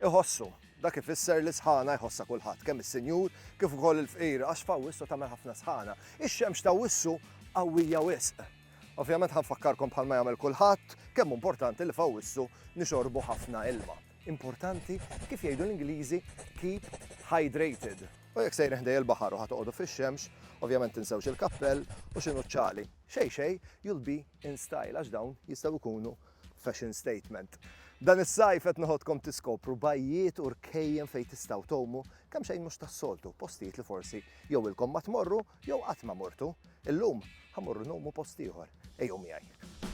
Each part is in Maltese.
Iħossu. Dak ifisser li sħana jħossha kulħadd, kemm is-sinjur kif ukoll il-fqir, għax f'Awwissu tagħmel ħafna sħana. Ix-xemx t'Awwissu qawwija wisq. Ovvjament ħa nfakkarkom bħalma jagħmel kulħadd, kemm hu importanti li f'Awwissu nixorbu ħafna ilma. Importanti, kif jgħidu l-Ingliżi, keep hydrated. U jekk sejrin ħdejja l-baħar u ħa toqogħdu fix-xemx, ovvjament tinsewx il-kappell u x'inhu ċ-ċali. Xejn xejn, you'll be in style għax dawn jistgħu jkunu Fashion statement. Dan is-sajf qed noħodkom tiskopru bajjiet u rkejjen fejn tistgħu tgħumu kemm xejn mhux tas-soltu, postijiet li forsi jew ilkom ma tmorru jew qatt ma mortu. Illum ħa morru ngħumu post ieħor. Ejjew miegħi.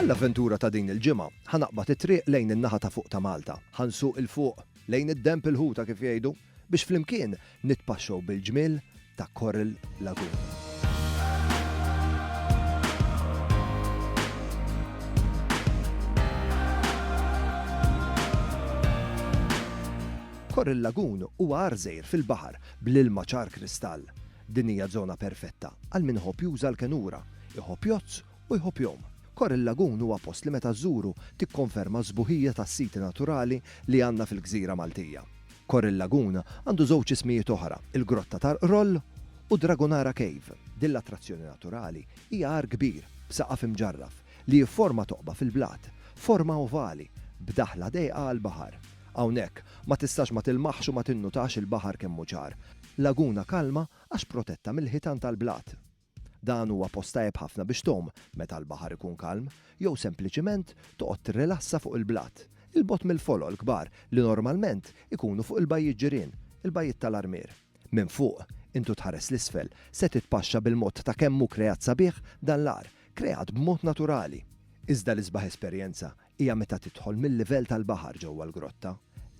Għall-avventura ta' din il-ġimgħa, ħa naqbad it-triq lejn in-naħa ta' fuq ta' Malta. Ħa nsuq 'il fuq, lejn id-denb il-ħuta kif jgħidu, biex flimkien nitpaxxew bil-ġmiel ta' Coral Lagoon. Korr il-Lagun huwa għarżejr fil-baħar bl-ilma ċar kristall. Din hija żona perfetta għal min iħobb juża l-kenura, iħobb jgħodd u jħobb jgħum. Korr il-Lagun huwa post li meta żżuru tikkonferma s-sbuħija tas-siti naturali li għandna fil-gżira Maltija. Korr il-Lagun għandu żewġ ismijiet oħra, il-Grotta tal-Qroll u Dragonara Cave. Din l-attrazzjoni naturali hija għar kbir b'saqaf imġarraf li jifforma toqba fil-blat, forma ovali, b'daħla dejqa għall-baħar. Hawnhekk, ma tistax ma tilmaħx u ma tinnutax il-baħar kemm hu ċar. Laguna kalma għax protetta mill-ħitan tal-blat. Dan huwa post tajjeb ħafna biex tgħum meta l-baħar ikun kalm, jew sempliċiment toqgħod tirrilassa fuq il-blat, 'il bogħod mill-folol kbar li normalment ikunu fuq il-bajjiet ġirien, il-Bajjiet tal-Armier. Minn fuq, int u tħares 'l isfel, se titpaxxa bil-mod ta' kemm hu kreat sabiħ dan l-għar, kreat b'mod naturali. Iżda l-isbaħ esperjenza hija meta tidħol mil-livell tal-baħar ġewwa l-grotta.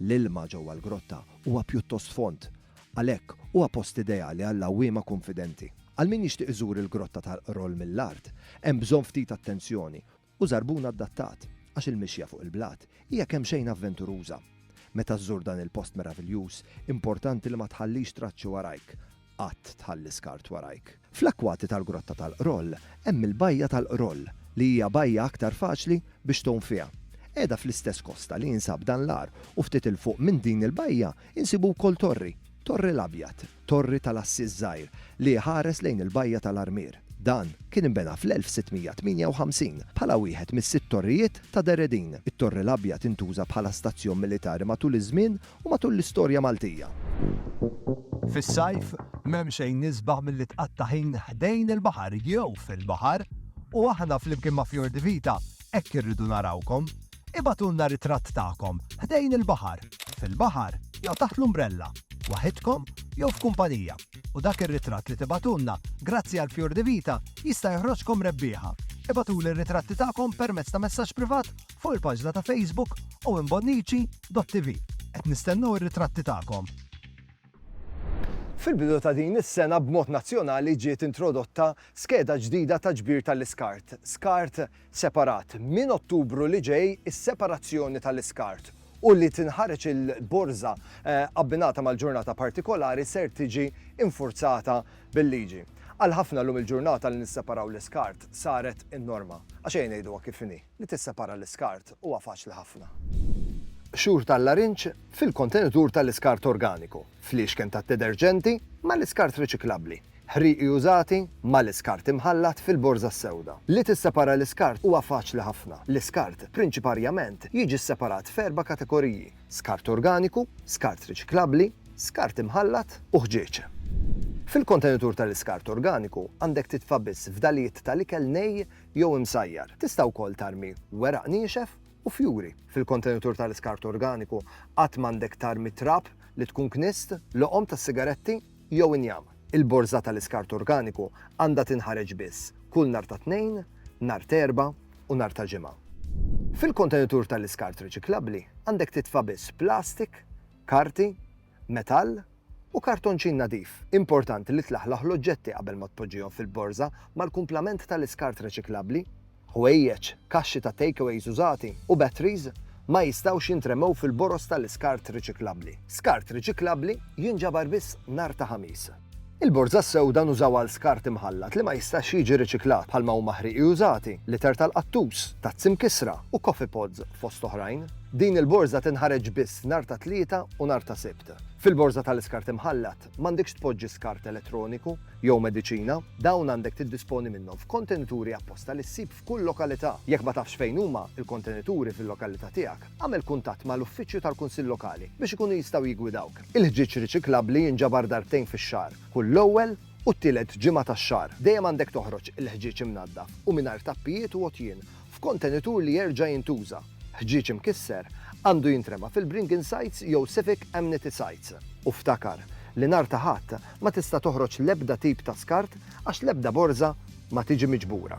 L-ilma ġewwa l-grotta huwa pjuttost fond, għalhekk huwa post ideali għall-għawwiema kunfidenti. Għal min jixtieq iżur il-Grotta tal-Qroll mill-art, hemm bżonn ftit attenzjoni u żarbun adattat, għax il-mixja fuq il-blat hija kemxejn avventuruża. Meta żżur dan il-post meraviljuż, importanti li ma tħallix traċċi warajk, qatt tħalli skart warajk. Fl-akkwati tal-Grotta tal-Qroll hemm il-Bajja tal-Qroll li hija bajja aktar faċli biex tgħum fiha. Qiegħda fl-istess kosta li jinsab dan l-għar u ftit 'il fuq minn din il-bajja insibu wkoll torri, Torri l-Abjad, torri tal-għassies żgħir li iħares lejn il-Bajja tal-Armier. Dan kien inbena fl-1658 bħala wieħed mis-sitt torrijiet ta' Deredin. It-Torri l-Abjad intuża bħala stazzjon militari matul iż-żmien u matul l-istorja Maltija. Fis-sajf, m'hemm xejn isbaħ milli tqatta' ħin ħdejn il-baħar jew fil-baħar u aħna flimkien ma' Fior di Vita hekk irridu narawkom. Ibagħtulna ritratt tagħkom ħdejn il-baħar, fil-baħar jew taħt l-umbrella, waħidkom jew f'kumpanija, u dak ir-ritratt li tibagħtulna grazzi għal Fior di Vita jista' joħroġkom rebbieħa. Ibagħtuli r-ritratti tagħkom permezz ta' messaġġ privat fuq il-paġna ta' Facebook Owen Bonnici. Dott-TV, Qed nistennew ir-ritratti tagħkom! Fil-bidu ta' din is-sena b'mod nazzjonali ġiet introdotta skeda ġdida ta' ġbir tal-iskart, skart separat. Minn Ottubru li ġej is-separazzjoni tal-iskart u li tinħareġ il-borża abbinata mal-ġurnata partikolari ser tiġi infurzata bil-liġi. Għal ħafna llum il-ġurnata li nisseparaw l-iskart saret in-norma. Għax ejja ngħiduha kif inhi. li tissepara l-iskart huwa faċli ħafna. Qxur tal-larinġ fil-kontenitur tal-iskart organiku, fliexken tad-dederġenti mal-iskart riċiklabbli, ħrieqi użati mal-iskart imħallat fil-borża s-sewda. Li tissepara l-iskart huwa faċli ħafna. L-iskart prinċiparjament jiġi sseparat f'erba' kategoriji, skart organiku, skart riċiklabbli, skart imħallat u ħġieġ. Fil-kontenitur tal-iskart organiku għandek titfa' biss fdalijiet tal-ikel nej jew imsajjar. Tista' wkoll tarmi weraq niexef u fjuri. Fil-kontenutur tal-iskart organiku qatt m'għandek tarmi trab li tkun kniżt, loqom tas-sigaretti jew injam. Il-borża tal-iskart organiku għandha tinħareġ biss kull nhar ta' Tnejn, nhar t'Erbgħa u nhar ta' Ġimgħa. Fil-kontenutur tal-iskart riċiklabbli għandek titfa' biss plastik, karti, metall u kartonċin nadif. Importanti li tlaħlaħ l-oġġetti qabel ma tpoġġihom fil-borża mal-kumplament tal-iskart reċiklabbli. Ħwejjeġ, kaxxi ta' takeaways użati u batteries ma jistgħux jintremew fil-boroż tal-iskart riċiklabbli. Skart riċiklabbli jinġabar biss nhar ta' Ħamis. Il-borża sewda nużawha għal skart imħallat li ma jistax jiġi riċiklat, bħalma huma ħrieqi użati, liter tal-qattus, tazzi mkissra, u coffee pods, fost oħrajn. Din il-borża tinħareġ biss nhar ta' Tlieta u nhar ta' Sibt. Fil-borża tal-iskart imħallat, m'għandekx tpoġġi skart elettroniku jew mediċina. Dawn għandek tiddisponi minnhom f'kontenituri apposta li ssib f'kull lokalità. Jekk ma tafx fejn huma l-kontenituri fil-lokalità tiegħek, Agħmel kuntatt ma' l-uffiċċju tal-Kunsill Lokali biex ikunu jistgħu jiggwidawk. Il-ħġieġ riċiklabbli jinġabar darbtejn fix-xahar, kull l-ewwel u t-tielet ġimgħa tax-xahar. Dejjem għandek toħroġ il-ħġieġ imnaddaf u mingħajr tappijiet u għotjien, f'kontenitur li jerġa' jintuża. Ħġieġ imkisser għandu jintrema fil-bringing sites jew civic amnity sites. U ftakar li nhar ta' Ħadd ma tista' toħroġ l-ebda tip ta' skart għax l-ebda borża ma tiġi miġbura.